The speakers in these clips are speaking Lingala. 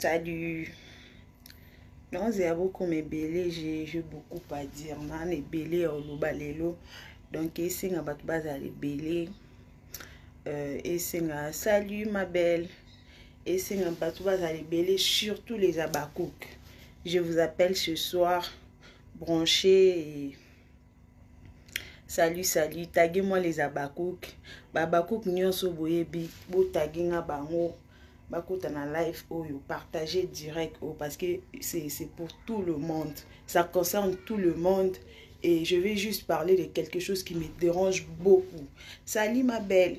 Salut. naoze ya bokoma ebele je beaucoup à dire nana ebele ya oloba lelo donc esenga bato bazala ebele euh, esenga salut ma belle esenga bato bazala ebele surtout les abacouk je vous appelle ce soir branché et salut salut tage moi les abakouk babakouk nyonso boyebi botage nga bango bakota na live oyo partage direct oyo parce que c'est pour tout le monde ça concerne tout le monde et je vais juste parler de quelque chose qui me dérange beaucoup salut ma belle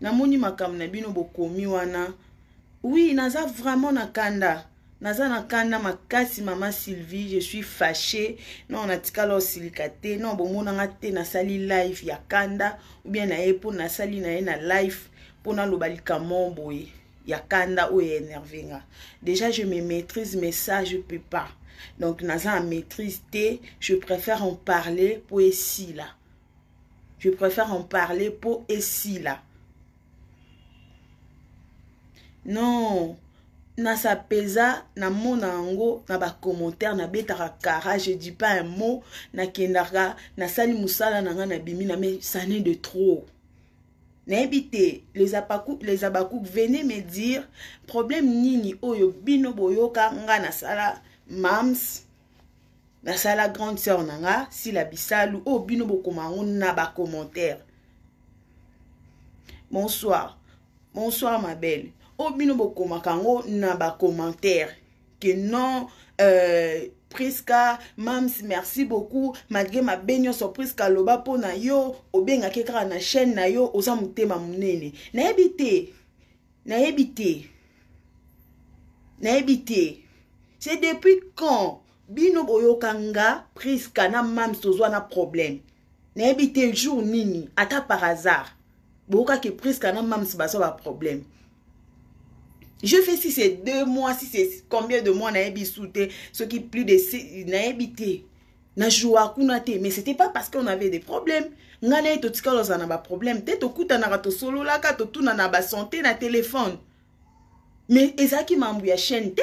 namoni makambo na bino bokomi wana oui naza vraiment na kanda naza na kanda makasi mama sylvie je suis fache non natikala osilika te non bomonanga te nasali live ya kanda oubien na ye mpo nasali na ye na live mpo naloba likambo boye ya kanda oyo enerve nga déjà je me maîtrise mais ça je peux pas donc naza na maîtrise te je préfère en parler mpo esila je préfère en parler mpo esila non nasapeza namona yango na bacommentaire nabetaka kara je dis pas un mot nakendaka nasali mosala na ngai nabimi na me sane de trop nayebi te les abakouk venez me dire problème nini oyo bino boyoka ngai nasala mams nasala grande sœur na nga sila bisalu oyo oh, bino bokoma yango na bacommentaire bonsoir bonsoir ma belle oyo oh, bino bokomaka yango na bacommentaire que non euh, priska mams merci beaucoup malgré mabe nyonso priska aloba mpo na yo obengaki kaka na chaîne na yo oza motema monene nayebi te nayebi te nayebi te c'est depuis quand bino boyoka nga priska na mams tozwa na problème nayebi te jour nini ata par hasard boyokaki priska na mams bazwa baproblème je fais si c'est deux mois si c'est combien de mois nayebi su te soki plus de nayebi te na joua kuna te mais c'était pas parce qu'on avait des problèmes ngai na ye totikala ozala na baproblème te tokutanaka tosololaka totunana basante na telefone mais ezalaki mambo ya chaîne te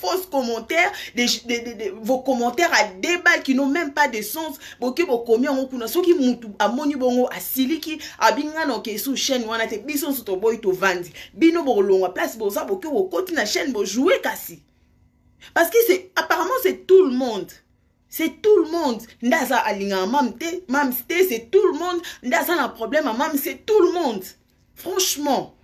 fausses commentaires, des, des, des, des, vos commentaires à deux balles qui n'ont même pas de sens. Boki bokomi yango kuna soki mutu amoni bongo asiliki abinga na ke sous chaîne wana te biso nso toboyi tovandi bino bokolongwa place boza boki bokoti na chaîne bojouer kasi parce que c'est apparemment c'est tout le monde c'est tout le monde nde aza alingaka mam te mam te c'est tout le monde nde aza na problème ya mam c'est tout le monde franchement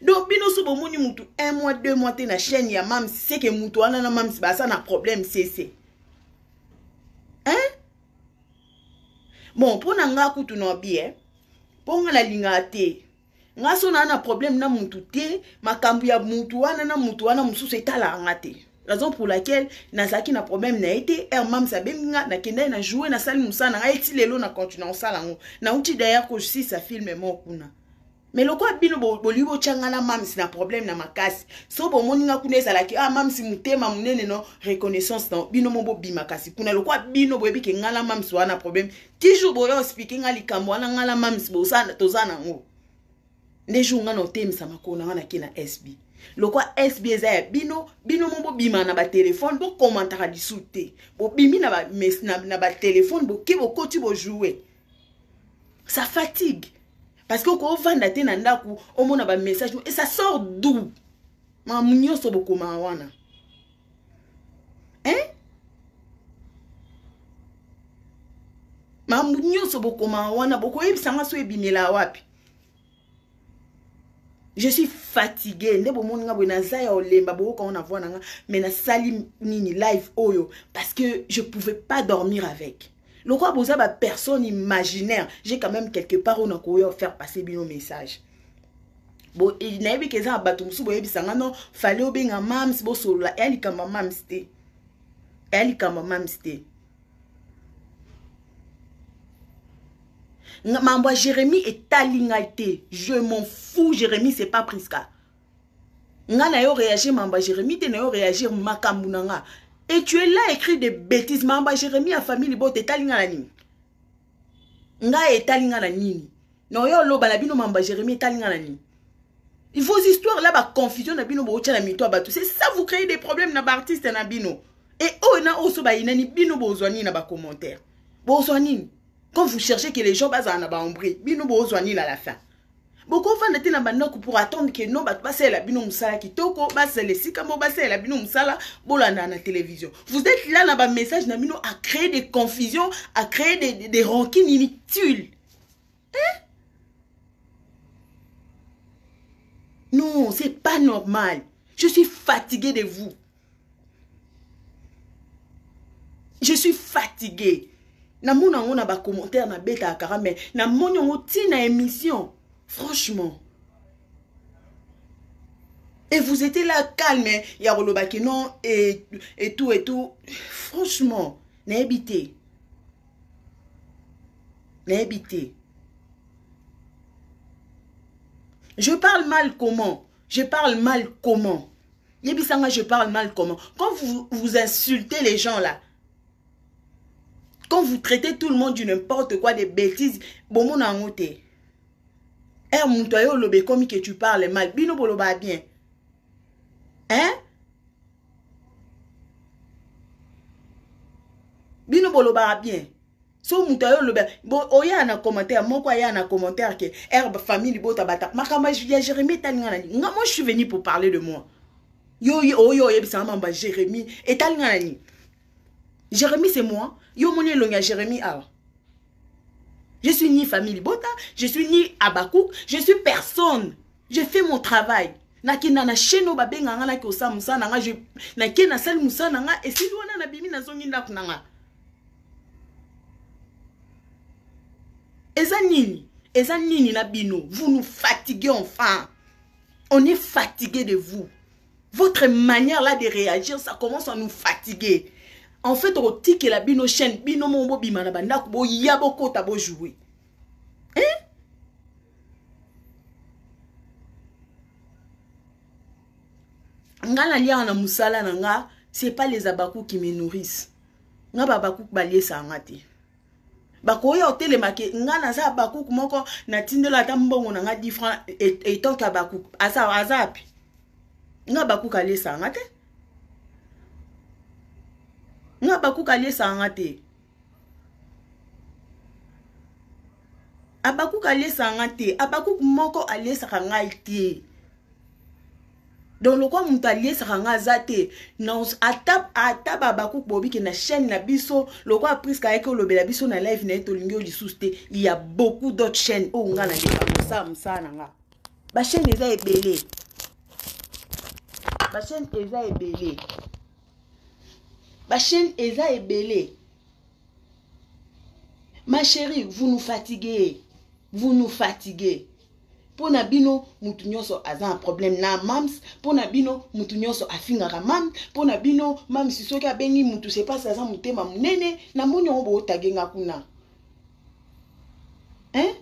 donc bino so bomoni mutu un mois deux mois te na chaîne ya mam seke mutu wana na mam baza na problème sese hein bon mpo na ngai kutu na bi eh? mpo ngai nalingaka te nga so naa na problème na mutu te makambo ya mutu wana na mutu wana mosusu etalaka nga te raison pour laquelle nazalaki na problème na ye te heure mams abengi nga nakendaki na joue nasali mosala na ngai ti lelo na continue kosala yango nauti d'ailleurs kosisa filme moko kuna me lokola bino bolingi botyanga na mams na problème na makasi so bomoni nga kuna ezalaki ah mams motema monene no reconnaissance na bino mo bobima kasi kuna lokola bino boyebi ke nga na mams wana problème ki jour boya ospike nga likambo wana nga na mamis toza nango nde jour nga na otemisa makolo na nga nake na sb lokwa sb eza ya bino bino mo bobima na batelefone bokomantaka lisu te bobimi na batelefone boke bokoti bojoue ça fatigue parce que okovanda te na ndako omona bamessage et ça sort doux mamu nyonso bokomaa wana hein makambo nyonso bokomaka wana bokoyebisa nga so ebimela wapi je suis fatigue nde bomoni nga boye naza ya olemba boyoka ngo na voi na nga mais nasali nini live oyo parce que je pouvais pas dormir avec lokola boza ba personne imaginaire j'ai quand même quelque part ona koya faire passer bino message bo nayebi ke eza na bato mosusu boyebisa nga no fale obenga mams bosolola eya likambo ya mams te eya likambo ya mams te mambo ya jérémie etali ngai te je m'en fou jérémie c'est pas prisca nga na yo réagir mamba jérémie te na yo réagir makambo na nga et tu es là écrit des bêtises mamba jérémie ya famille libota etali nga na nini nga etali nga na nini na oyo oloba na bino mamba jérémie etali nga na nini vos histoires là baconfusion na bino bootya na mito ya bato c'est ça vous créez des problèmes na baartiste na bino e oyo na oyo so bayinani bino bozwa nini na bacommentaire bozwa nini quand vous cherchez que les gens bazala na baombre bino bozwa nini à la fin bokovanda te na bandako pour attendre ke no bato basalela bino mosala kitoko basala esika moko basalela bino mosala bolandaka na télévision vous êtes là na bamessage na bino à créer des confusions à créer des, des, des rancines inutiles hein? non c'est pas normal je suis fatigué de vous je suis fatigué namona yango na bacommentaire nabetaka kaka mai namoni yango ti na émission franchement et vous étiez là calme ya koloba ke non et, et tout et tout franchement nayebi te nayebi te je parle mal comment je parle mal comment yebisa nga je parle mal comment quand vous, vous insultez les gens là quand vous traitez tout le monde du n'importe quoi des bêtises bomona yango te er moto aye oloba ekomi ke tu parle mal bino bolobaa bien hein bino bolobaka bien so moto ayo oloba oya na commentaire moko aya na commentaire ke herbe famille libota bata makambo ya jérémie etali nga na nini nga moi je suis venu pour parler de moi yo oyo oyebisanga mambo ya jérémie etali nga na nini jérémie c'est moi yo omoni elongi ya jérémie awa je suis ni famille libota je suis ni abakouk je suis personne je fais mon travail nakenda na chaine oyo babenga nga nake osala mosala na nga nake nasali mosala na nga esili wana nabimi nazongi ndako na nga eza nini eza nini na bino vous nous fatiguez enfin on est fatigué de vous votre manière là de réagir ça commence à nous fatiguer en fait okotikela bino chaîne bino moko bobima na bandako boya bokota bojoue hein? nga naliaka na mosala na nga c'est pas les abacou qui me nourrissent nga babakuku baliesaka nga te bakoya otelema ke nga naza abakuku moko natindela ata mbongo na nga 10 franc etant ke abakuku aza aza api nga abakuku aliesaka nga te nga abakuku aliesaka nga te abakuku aliesaka nga te abakuku moko aliesaka ngai te donc lokola moto aliesaka nga aza te ata, ata babakuk bobike na chaîne na biso lokola priska ayaki olobela biso na live na ye tolingi yo lisusu te ya beaucoup d'autres chaîne oyo nga naleka kosala mosala na nga bachaîne eza ebele bachaîne eza ebele bachaîne eza ebele ma chérie vous nous fatiguez vous nous fatiguez mpo na bino motu nyonso aza na problème na mams mpo na bino motu nyonso afingaka mams mpo na bino mams soki abengi motu sepasi aza motema monene na moni yango bootage nga kuna hein?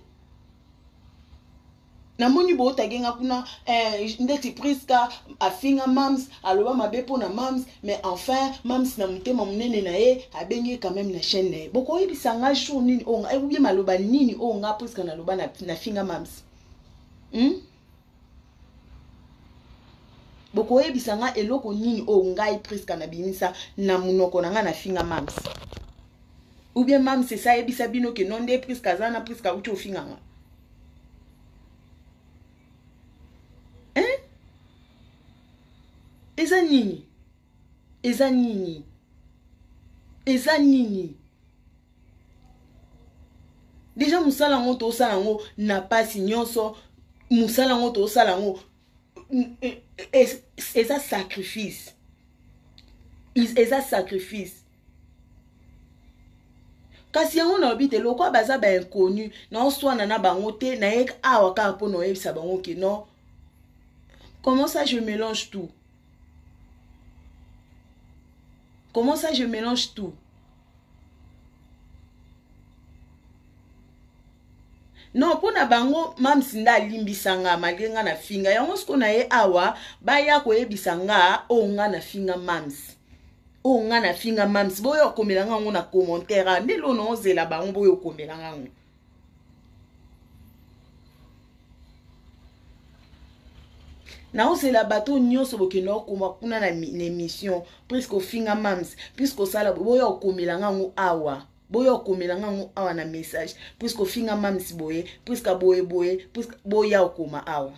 namoni bootage nga kuna eh, ndeti priska afinga mams aloba mabe mpo na mams mais enfin mams na motema monene na ye abengi ye quand même na chaîne na ye bokoyebisa nga jour nini oyo nga ebie maloba nini oyo nga puiske naloba na, na finga mams hmm? bokoyebisa nga eloko nini oyo ngai priska nabimisa na monoko na ngai na finga mams ou bien mams esi ayebisa bino ke no nde priska aza na priska auti ofinga nga eza nini eza nini eza nini deja mosala yango tosala yango na mpasi nyonso mosala yango tosala yango eza sacrifice eza sacrifice kasi yango nalobi te lokola baza bainconnu naoswana na bango te naye awa kaka mpo na oyebisa bango ke non Comment ça je mélange tout Comment ça je mélange tout non mpo na bango mams nde alimbisa nga malgre nga na finga yango siko na ye awa baya koyebisa nga oyo oh, nga na finga mams oyo oh, nga na finga mams boyo okomela nga yango na commentaire nde lono ozela bango boyo okomela nga yango naozela bato oyo nyonso bokenda okoma kuna na émission puiske ofinga mams puiske osala boya okomela nga yango awa boya okomela nga yango awa na message puiske ofinga mams boye puiske boye boye puiske boya okoma awa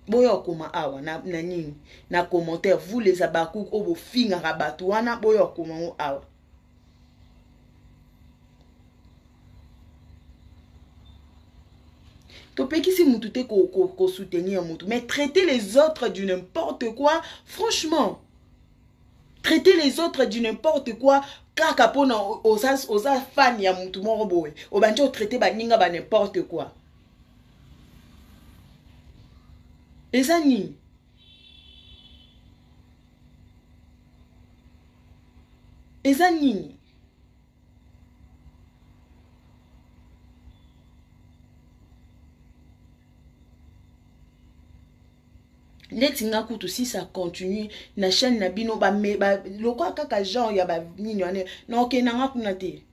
boya okoma awa na, na nini na commentaire vous les abakouk oyo bofingaka bato wana boya okoma yango awa topekisi mutu te kosoutenir ko, ko mutu mais traiter les autres du n'importe quoi franchement traiter les autres du n'importe quoi kaka mpona oza, oza fan ya mutu moko boye obandi otraite baninga ba n'importe quoi eza nini eza nini neti nga kutu si ça continue na chaîne na bino lokola kaka genre ya banini wana naokenda nga kuna te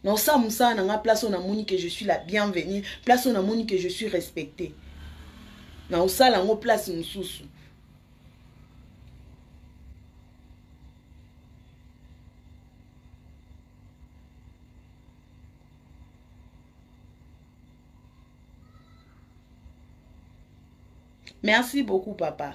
naosala mosala na ngai place oyo namoni ke je suis la bienvenue place oyo namoni ke je suis respecté naosala yango place mosusu merci beaucoup papa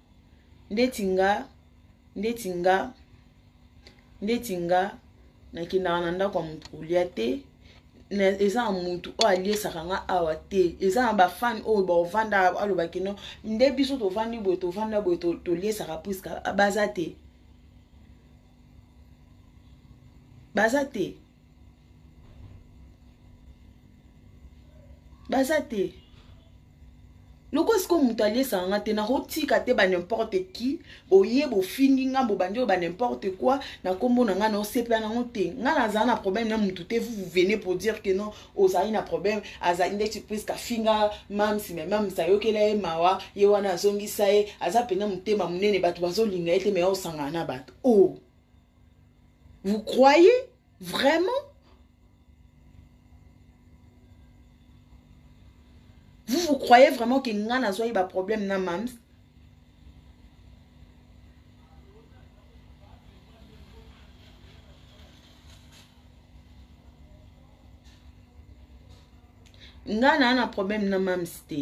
ndeti nga ndeti nga ndeti nga nakendaka na ndako ya moto kolia te eza na motu oyo aliesaka nga awa te eza na bafane oyo bovanda aloba kino nde biso tovandi boye tovanda boye toliesaka priska baza te baza te baza te lokola sikoyo moto aliesaka nga te nakotika te ba nimporte qui boye bofingi nga bobandi oyo ba nimporte quoi na nkombo na nga naosepela nango te nga nazala na problème na motu te vous venez pour dire que non ozali na problème azali ndeti priske afinga mamsi me mamsi ayokela ye mawa ye wana azongisa ye aza mpenza motema monene bato bazolinga ye te me osangana na bato o oh. Vous croyez vraiment Vous vous croyez vraiment que nga nazwaki ba problème na mams nga naa na problème na mams te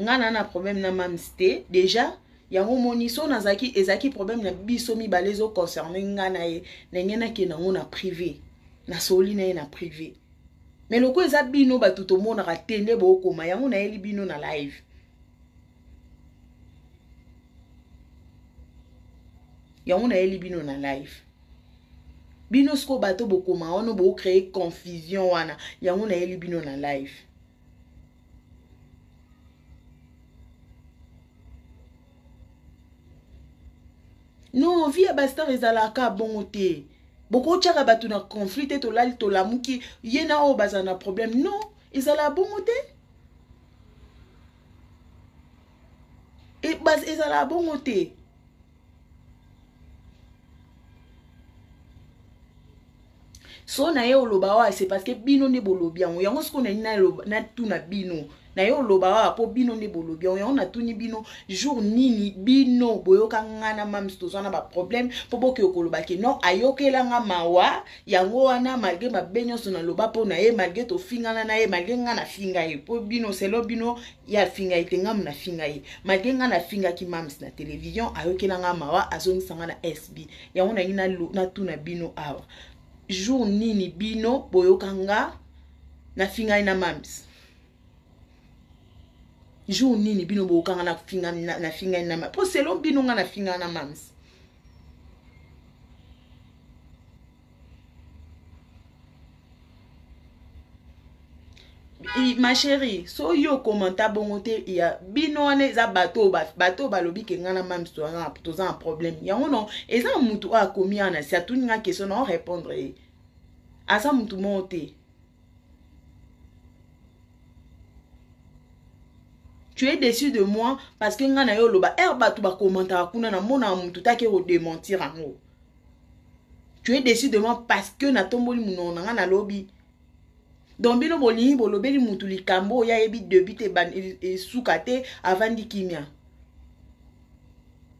nga naa na problème na mams te déjà yango omoni so nazalaki ezalaki problème na biso mibale ezo concerne nga na ye ndenge nakenda yango na privé nasololi na ye na privé me lokola eza bino bato tomonaka te nde bookoma yango nayeli bino na live yango nayeli bino na live bino sikoyo bato bokoma wana boocreye confusion wana yango nayeli bino na live non vie ya bastar ezalaka bongo te bokotyaka bato na conflit te tolali tolamuki ye na oyo bazala na problème non ezalaka bongo te e, ezalaka bongo te so na ye oloba oyo se parce que bino nde bolobi yango yango sikoyo nani natuna bino na ye oloba awa mpo bino nde bolobi yango yango natuni bino jour nini bino boyoka nga na mams tozwa na baproblème mpo bokeyo koloba ke non ayokela nga mawa yango wana malgre mabe nyonso naloba mpo na ye malgre tofingana na ye malgre nga nafinga ye mpo bino selo bino ye afinga ye te nga muna finga ye malgre nga nafingaki mams na television ayokela nga mawa azongisa nga na sb yango nangi natuna bino awa jour nini bino boyoka nga nafingani na mams jour nini bino bokanga na finga na finga na ma po selon bino nga na finga na mams ma chérie so yo okomanta bongo te ya bino wana eza bato oyo bato oyo balobi ke ngai na mami toza na problème yango no eza na motu oyo akomi wana si atuni ngai question na orépondre ye aza motu moko te tu es déçu de moi parce que ngai na yo oloba ere bato bakomantaka kuna namonaka moto take kodementir yango tu es déçu de moi parce que natomboli monoko na ngai nalobi donc bino bolingi bolobeli motu likambo oyo ayebi debut te esuka te avandi kimia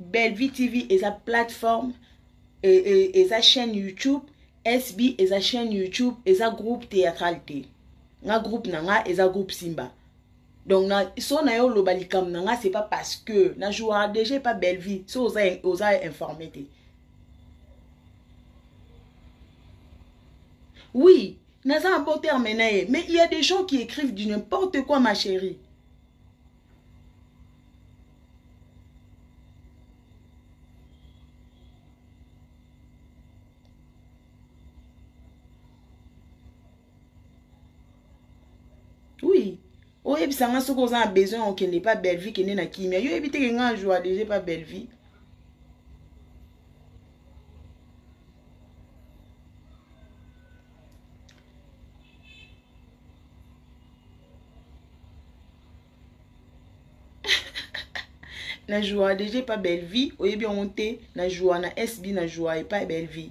bellevue tv eza plateforme e, e, eza chaîne youtube sb eza chaîne youtube eza groupe théâtral te nga groupe na nga eza groupe simba donc na, so na yo oloba likambo na nga c'est pas parce que na jouaka déjà epa bellevue so oza, oza informe te oui naza na bo terme na ye mais il y a des gens qui écrivent du n'importe quoi ma chérie oui oyebisa nga soki oza na besoin ya kokende epa bellevie kende na kimia yo oyebi teke nga joa deja epa bellevie na joua deja epa bellevie oyebi yango te na joua na sb na joua epa bellevie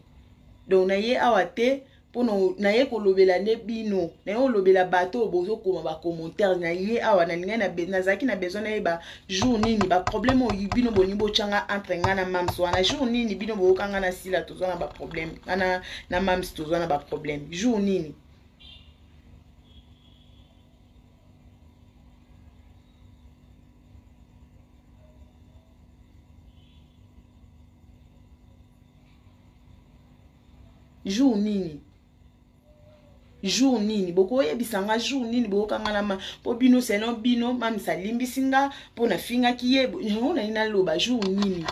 donc na ye awa te mpo na ye kolobela nde bino na ye kolobela bato oyo bozokoma bacommentaire na ye awa nalingai nazalaki na besoin nayeba jour nini baproblème oyo bino bolingi botyanga entre ngai na mams wana jour nini bino boyoka ngai na sila tozwa na baproblème ngai na mams tozwa na baproblème jour nini jour nini jour nini bokoyebisa nga jour nini boyokanga na ma mpo bino selon bino mamisa alimbisi nga mpo nafingaki ye yango nai naloba jour nini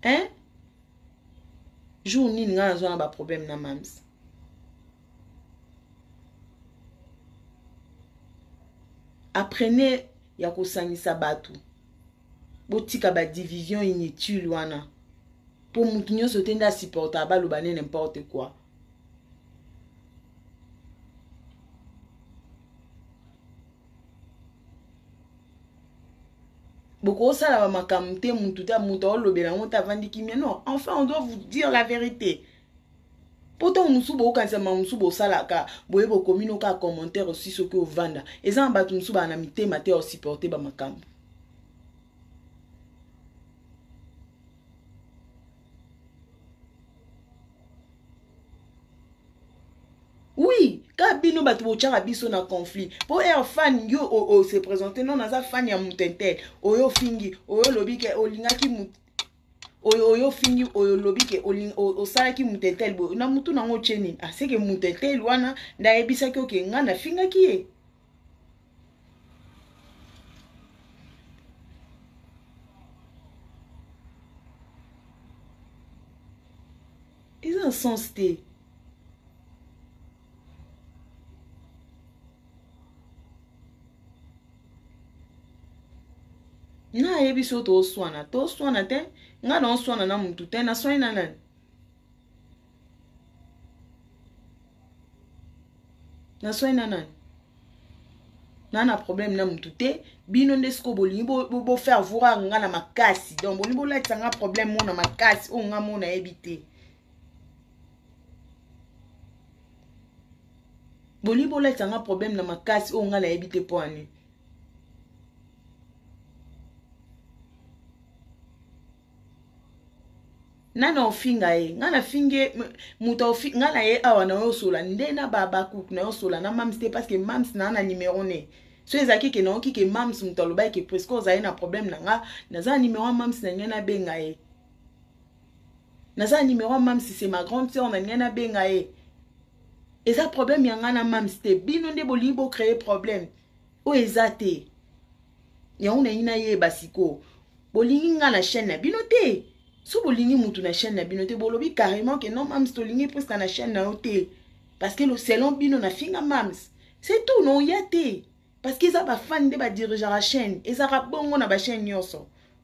hein jour nini ngai nazwa na baproblème na mams apprenez ya kosangisa bato botika badivision inutile wana mpo moto nyonso te nde asupportaka baloba ne n'importe quoi bokosala bamakambo te mutu te moto aolobela yango te avandi kimia non enfin on doit vous dire la vérité mpo ntango mosusu bokokanisa makambo mosusu bosalaka boye bokomi no kaka commentaire osi soki ovanda eza na bato mosusu baa na mitema te ya osupporte bamakambo oui ka bino bato botyaka biso na conflit mpo air fan yo ose présente non naza fan ya moto intel oyo ofingi oyo olobi ke olingaki oyo oyo ofingi oyo olobi ke osalaki moto intel boye na motu nango otye nini aseke ah, moto intel wana nde ayebisaki oke ngai nafingaki ye eza na sens te nayebi so toswana toswana te ngai naoswana na motu te naswani na nani naswai na nani na na problème na mutu te bino nde sikoyo bolingi bofaire bo, bo voir nga na makasi donc bolingi bolatisa nga problème mona makasi oyo nga mona yebi te bolingi bolatisa nga problème na makasi oyo nga nayebi te mpo ani nani ofinga ye ngai nafingi ye moto ngai na ye awa na yo osola nde na babakuk na yo osola na mams te parce que mams naa na numero ne so ezalaki ke nayoki ke mams moto alobaki ke presque ozali na problème na nga naza na numero ya mams na ngai nabenga ye naza na numero ya mams c'est ma grande sœur na ngai nabenga ye eza problème ya ngai na mams te bino nde bolingi bocreye problème oyo eza te yango nalingi nayeba sikoyo bolingi nga na chaîne na bino te so bolingi mutu na chaîne na bino te bolobi carrément ke non mams tolingi preska na chaîne na yo te parce que selon bino nafinga mams c'est tout noya te parce que eza bafani nde badirigeaka chaîne ezalaka bongo na bachaîne nyonso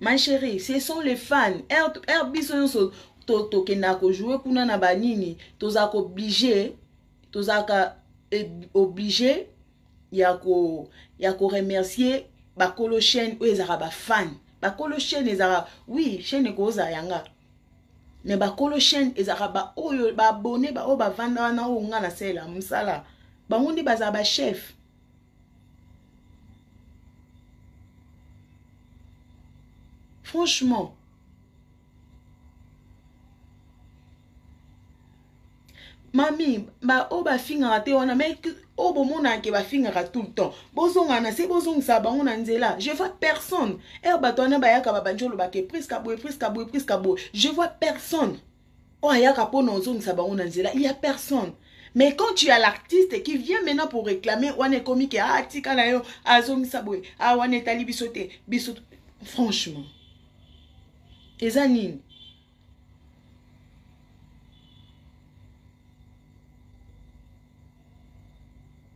ma chérie ce sont les fans r, r biso nyonso tokendaka to kojoue kuna na banini tozalaka oblige tozalaka oblige ya ko ya ko remercier bakolo chaîne oyo ezalaka bafane bakolo chaîne ezalaka oui chaîne ekozala yanga me bakolo chaîne ezalaka baoyo baabone baoyo bavanda wana oyo nga nasalela mosala bango nde bazala bachef franchement mami baoyo bafingaka te wana mai oyo bomonaka ke bafingaka tout le temps bozongaka na se bozongisaka bango na nzela je vois personne ere bato wana bayaka babandi olobaka epriska boye epriska boye epriska boye je vois personne oyo ayaka mpo na ozongisa bango na nzela ya personne mais quand tu as l'artiste qui vient maintenant pour réclamer wana ekomi ke ah tika na yo azongisa boye ah wana etali biso te biso franchement eza nini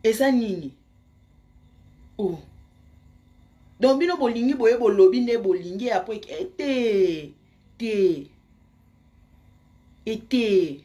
eza nini oh. donc bino bolingi boye bolobi nde bolingi apres eh, te te ete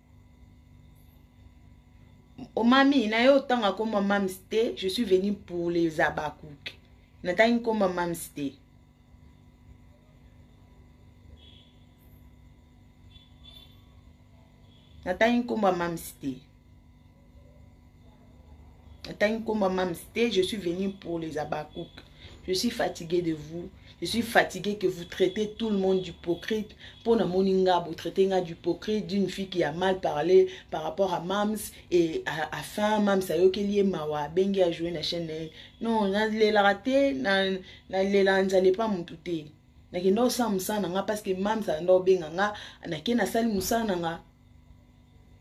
oh, mami naye otanga koma mams te je suis venu pour les abakuke natangi nkoma mams te natangi nkoma mams te atangi nkombo ya mams te je suis venu pour les abacouk je suis fatigué de vous je suis fatigué que vous traitez tout le monde d'hypocrite mpo namoni nga botraite nga d'hypocrite d'une fille qui a mal parlé par rapport à mams et à, à fin mams ayokeli ye mawa abengi ajoue na chaîne na ye non nalelaka te nalelaka nzala epa motu te nakenda osala mosala na nga parce que mams akenda obenga nga nake nasali mosala na nga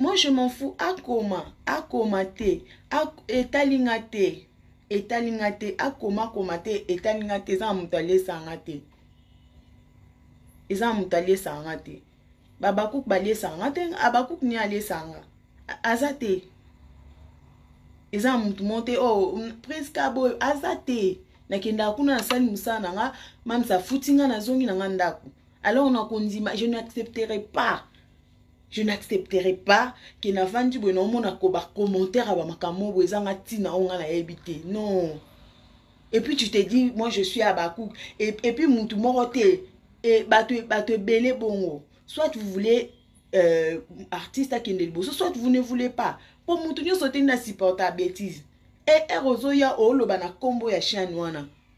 moi je m'en fous akoma akoma te etali nga te etali nga te akoma akoma te etali nga te eza na moto aliesa nga te eza na moto aliesa nga te babakuk baliesa nga te abakuk ni aliesa nga aza te eza na moto moko te oyo oh, priska boyo aza te nakendaka kuna nasali mosala na nga mamisa afuti nga nazongi na nga ndako alors nakondima je n'accepterai pas je n'accepterai pas ke navandi boye naomona ko bacommentaire ya bamakambo boye ezanga ntina oyo ngai nayebi te non et puis tu te dis moi je suis abakuk et, et puis mutu moko te e, bato bato ebele bongo soit vous voulez euh, artiste akende liboso soit vous ne voulez pas mpo mutu nyonso te nde asupporta bêtise er ozoya oloba na nkombo ya chaine wana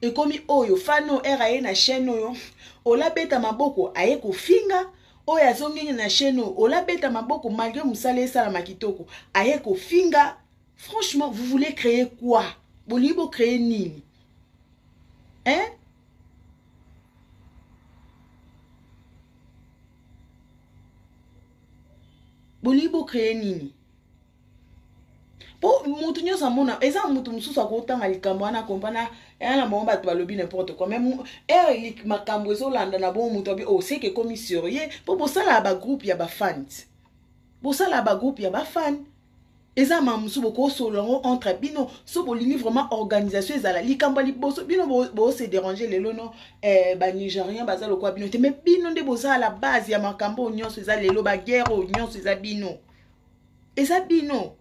ekomi oyo fani oyo ere aye na chaine oyo olabeta maboko aye kofinga oyo azongeli na chaine oyo olabeta maboko malgre mosala esalama kitoko aye kofinga franchement vous voulez créer quoi bolingi bocreye nini hein bolingi bocreye nini po mutu nyonso amona eza mutu mosusu akotanga likambo wana akompana ea na bango bato balobi n'importe quoi mais ere makambo ezolanda na bongo moto abi oseke oh, ekomi surieux po bosalaka bagroupe ya bafans bosalaka bagroupe ya bafan eza ma mosusu bokosolola yango entre bino so bolingi vraiment organisation ezala likambo ya liboso bino bose dérange lelo no eh, banigérien baza lokola bino te mais bino nde bozala base ya makambo oyo nyonso eza lelo baguerre oyo nyonso eza bino eza bino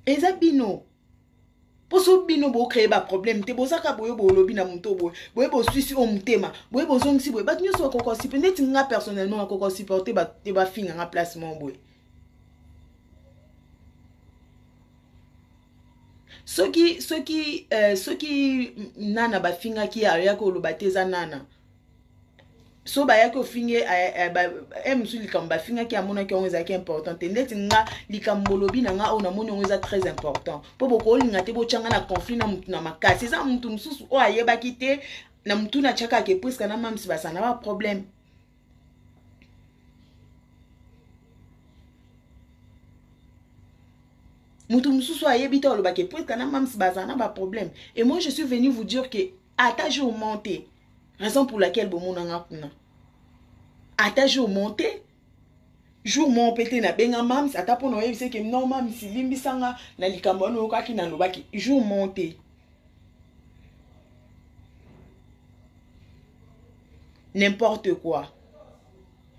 eza bino mposo bino bocreye baproblème te bozaka boye bolobi na moto boye boye boswisi o motema boye bozongisi boye bato nyonso bakoka osipe neti nga personnellement nakoka osupporte te bafinga nga place moko boye soki soki euh, soki nana bafingaki ayaki oloba te eza nana so bayaki ofinge eh, eh, eh, mosusu likambo bafingaki amonaki yango ezalaki important te ndeti nga likambo olobi na nga oyo namoni yango eza très important mpo bokolinga te botyanga na conflit na motu na makasi eza motu mosusu oyo ayebaki te na motuna atyaka ke priska na mamsi basana baproblème moto mosusu ayebi te oloba ke puitka na mams baza na baproblème et moi je suis venu vous dire ke ata jour monte raison pour laquelle bomonanga kuna ata jour monte jour moko mpe te nabenga mams ata mpo na oyebisa eke no mams limbisa nga na likambo wana oyokaki nalobaki jour moko te n'importe quoi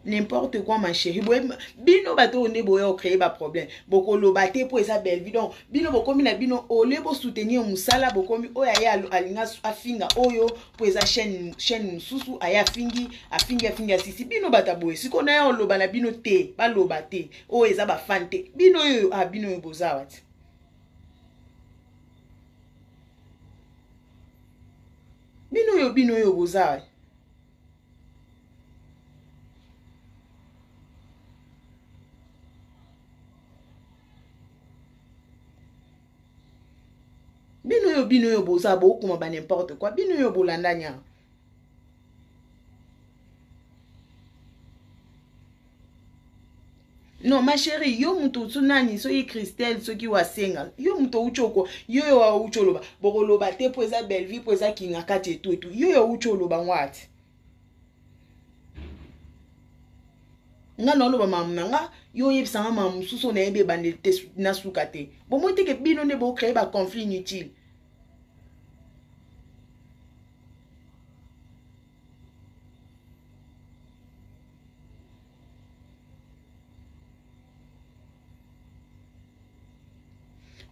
n'importe quoi ma chérie boye bino bato oyo nde boya ocreye baproblème bokoloba te mpo eza bellevue donc bino bokomi na bino olie bosoutenir mosala bokomi oyo aye alinga afinga oyo mpo eza chaine chaine mosusu aye afingi afingi afingi asisi bino bato aboye sikoyo naye oloba na bino te baloba te oyo eza bafane te bino oyo a ah, bino oyo boza wati bino oyo bino oyo boza wati bino oyo bino oyo boza bokoma ba n'importe quoi bino oyo bolanda nyanga non ma chérie yo moto osu nani soki christelle soki wasenga yo moto outi oko yo yo outi oloba bokoloba te mpo eza bellevue mpo eza kingakati etu etu yo yo outi oloba ngwati nga naoloba mamu na nga yo oyebisa nga mamu mosusu nayebi ebandeli te nasuka te bomoi teke bino nde bocreye baconflit inutile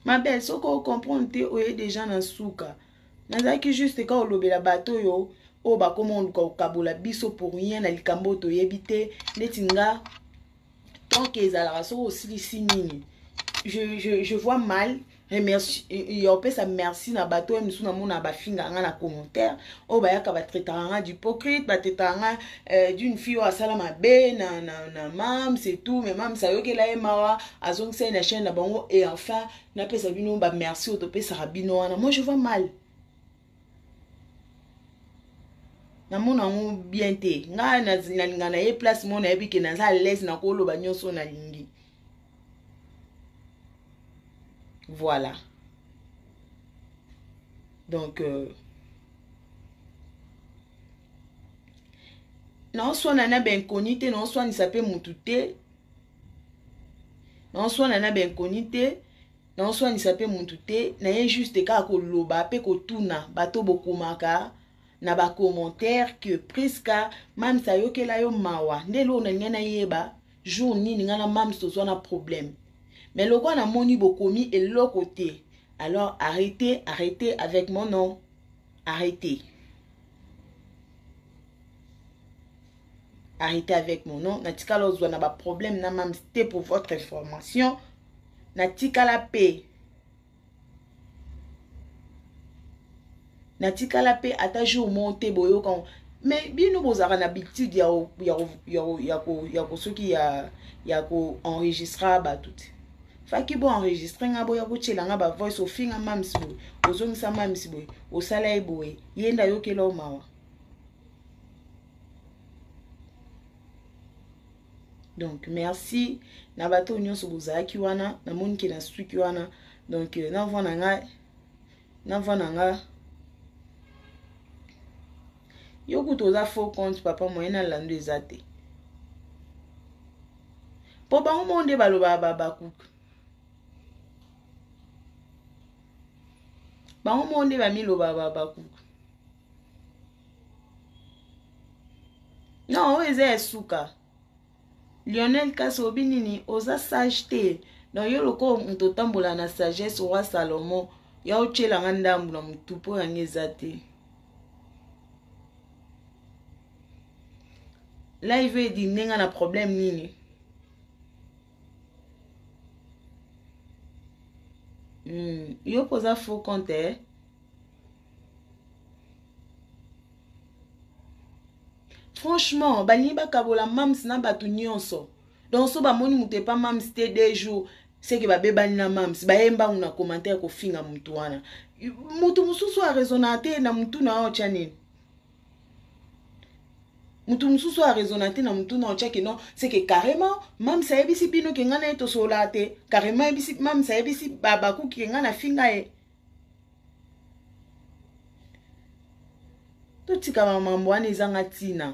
ma belle soki ocomprendre te oye deja na suka nazalaki juste ka olobela bato oyo oyo bakoma oluka kokabola biso pour rien na likambo oyo toyebi te neti nga tanke ezalaka soki osilisi nini je, je, je vois mal remercie ya opesa merci na bato oyo mosusu namona bafingaka nga na commentaire oyo bayaka batraitaka nga d'hypocrite batraitaka nga euh, d'une fille oyo asala mabe na, na, na mams et tout mais mams ayokela ye mawa azongisa ye na chaine na bango et enfin napesa bino ba merci oyo topesaka bino wana moi je vois mal namona yango bien te ngai nalinga na ye place moko nayebi ke naza alaise nakoloba nyonso nalingi voilà donc euh, naoswana na bainconi te naoswanisa mpe motu te naoswana na bainconi te naoswanisa mpe mutu te naye juste kaka koloba mpe kotuna bato bokomaka na bacommentaire que prisca mams ayokela yo mawa nde eloko nalinga nayeba jour nini ngai na mams tozwa na problème mais lokola namoni bokomi eloko te alors arrete arrete avec mon nom arrete arrêtez avec mon nom natikala ozwa na baproblème na mams te pour votre information natikala mpe natikala mpe ata jour moko te boyoka mais bino bozalaka na habitude ya, ya, ya, ya, ya kosoki ya, ya koenregistra bato te faki bo enregistre nga boya kotyela nga bavoice ofinga mamisi boye ozongisa mamisi boye osala ye boye ye nde ayokela o mawa donc merci na bato nyonso bozalaki wana namoni ke na suki wana donc euh, na voi na nga na voi na nga yo kutu oza faux compte papa moyen na lando eza te mpo bango moko nde balobaka babakuka bango moko nde bamilobaka babakuka non oyo eza ya suka lionel kasi obi nini oza sage te na yo lokola moto otambola na sagesse roi salomo ya otyela nga ndambu na motu mpo yango eza te live edi ndenge na problème nini mm. yo mpoza faux compte eh? franchement balingi bakabola mams na bato nyonso donc so bamoni moto epa mams te deux jours seke babebani na mams baye mbangu na commentaire kofinga motu wana motu mosusu arezona te na motu na yo otya nini motu mosusu arezona te na motu na otyaki no seke carrément mams ayebisi bino ke ngai na ye tosololaka te carrément mams ayebisi babakuki ke ngai nafinga ye totika bamambo wana ezanga ntina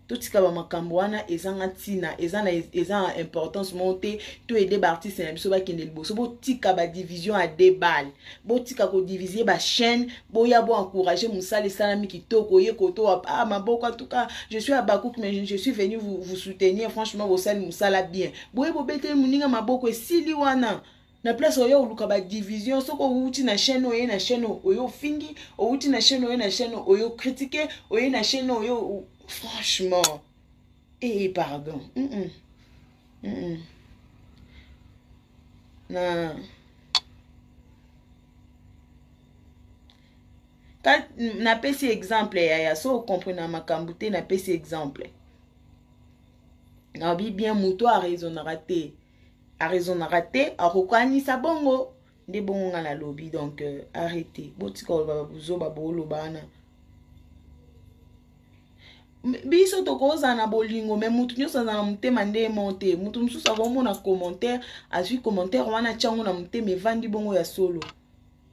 totika bamakambo wana ezanga ntina eza na eza na importance moko te to ede baartiste na biso bakende liboso botika badivision ya debal botika kodivise bachaine boya bo encourage mosala esalami kitoko ye koto ah, maboko atuka je suis abakuk mais je suis venu vous, vous soutenir franchement bosali mosala bien boye bobeteli moninga maboko esili wana na place oye oluka badivision soki owuti na chaine oye na chaine oye ofingi owuti na chaine oye na chaine oye okritike oye na chaine oye franchement ee eh, pardon mm -mm. Mm -mm. na napesi exemple yaya so okomprena makambo te napesi exemple nabi bien moto araisonnaka te arezonaka te akokanisa bongo nde bongo ngai nalobi donc euh, arrete botika koloba babuzoba booloba wana biso tokozala na bolingo me motu nyonso azala na motema nde mo te motu mosusu akomona commentaire azwi commentaire wana atyango na motema evandi bongo ya solo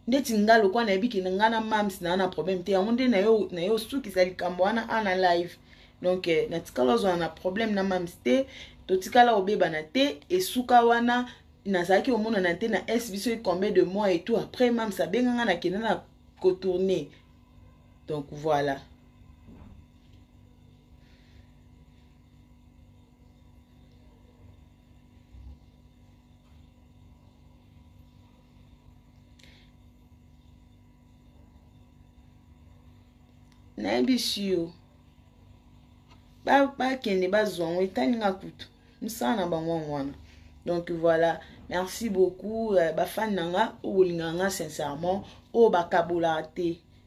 ndeti nga lokwa nayebi ke nga na mams naa na problème te yango nde naye osukisa likambo wana ana live donc eh, natikala ozwana na problème na mams te totikala obebana te esuka wana nazalaki omonana te na s biso ecombien de mois et tout après mams abenga nga nakenda na kotourne donc voilà nayebisi yo bakende ba bazwa yango etali nga kutu mosala na bango yango wana donc voilà merci beaucoup euh, bafani na nga oyo bolingaka nga sincèrement oyo bakabolaka te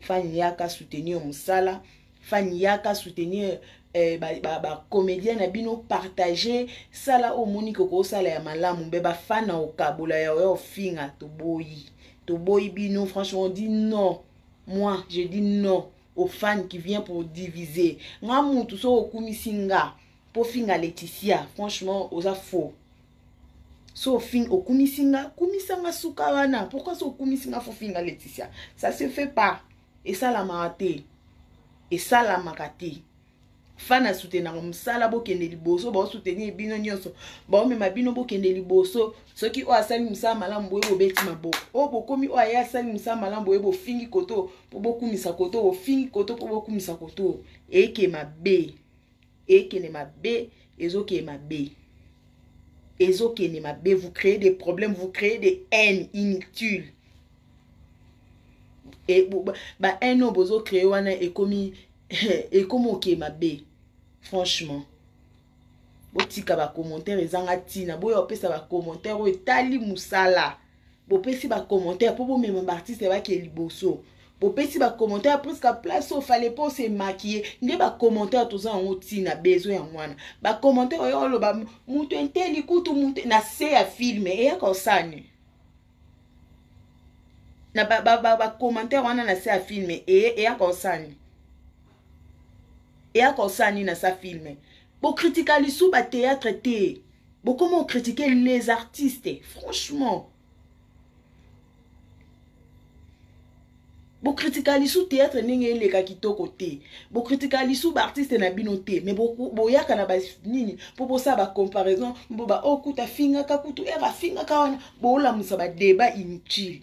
fani yaka soutenir mosala fani yaka soutenir eh, bacomédien ba, ba na bino partage sala oyo omoni koki osala ya malamu mpe bafana okabola ya oya ofinga toboyi toboyi bino franchement di non moi je dis non aux fans qui vient pour diviser nga mutu soki okumisi nga po finga Laetitia franchement oza faux so ofing okumisi nga kumisa nga suka wana pourquoi so okumisi nga fofinga leticia ça se fait pas esalamaka te esalamaka te fana soutenaka mosala bokende liboso baosoutenir bino nyonso baomema bino bokende liboso soki oyo asali mosala malamu boye bobeti maboko oyo oh, bokomi oyo aye asali mosala malamu boye bofingi koto mpo bokumisa koto bofingi koto mpo bokumisa koto eke mabe ekende mabe ezokende mabe ezokende mabe vous créez des problèmes vous créez des haines inutiles e, ba haine oyo bozo créer wana ekomi ekomi oke mabe franchement botika bacommentaire ezanga ntina boya opesa bacommentaire oyo etali mosala bopesi ba commentaire po bomema ba artiste ya bake liboso bopesi ba commentaire presque place oyo fale po se maquille nde ba commentaire toza yango ntina besoin ya mwana ba commentaire oyo oloba moto enteli kutu moto na se ya filme eyaka osani na ba, ba, ba, ba commentaire wana na se ya filme eye eyaka osani eyaka osani na sa filme bokritika lisu bateatre te bokoma o critique les artistes franchement bokritika lisu théâtre ndenge eleka kitoko te bokritika lisu baartiste na bino te me boyaka na banini mpo bosala bacomparaison mpo baokuta oh, afingaka kutu ere afingaka wana bolamusa badeba inutile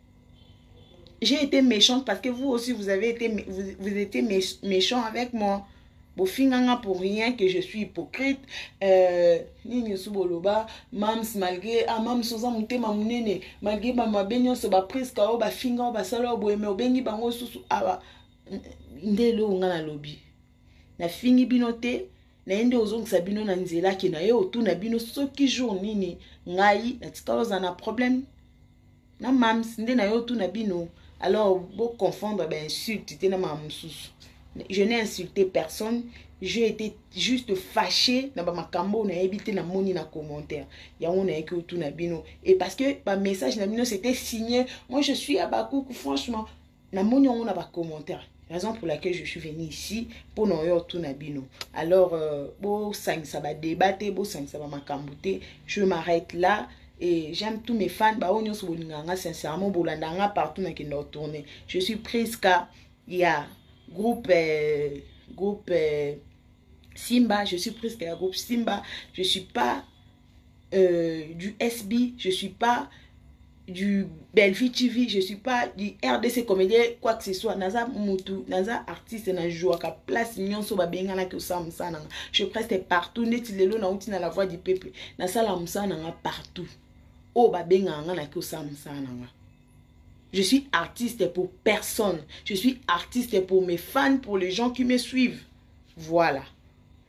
j'ai été méchante parce que vous aussi vous avez été vous, vous étiez méchant avec moi bofinganga pour rien que je suis hypocrite euh, nini osu boloba mams malgré ah mams oza motema monene malgré bamabe nyonso bapriska oyo bafinga oyo basala oyo boyeme obengi bango osusu awa ah, nde eloko nga nalobi nafingi bino te naye nde ozongisa bino na nzela ke naye otuna bino soki jour nini ngai natikala ozala na problème na mams nde na yo tuna bino alors bo confondre ba insulte te na ma mususu je n'ai insulté personne j'ai été juste fâché na bamakambo oyo nayebi te namoni na commentaire yango nayeki otuna bino et parce que bamessage na bino c'était signé moi je suis abakuku franchement namoni yango na ba commentaire raison pour laquelle je suis venu ici mpo na oyo otuna bino alors euh, bosangisa badeba te bosangisa bamakambo te je m'arrête là et j'aime tous mes fans baoyo nyonso bolinga nga sincèrement bolanda nga partout nakenda otourne je suis prisca ya yeah. groupe euh, groupe euh, simba je suis prisca ya groupe simba je suis pas euh, du SB, je suis pas du Bellevue TV, je suis pas du RDC comédien, quoi que ce soit. Naza mutu, naza artiste, na jouaka place nyonso ba benga na kiosa musana. Je preste partout, neti lelo na uti na la voix du peuple. Na sala musana nga partout. Oh ba benga nga na kiosa musana nga. Je suis artiste pour personne. Je suis artiste pour mes fans, pour les gens qui me suivent. Voilà.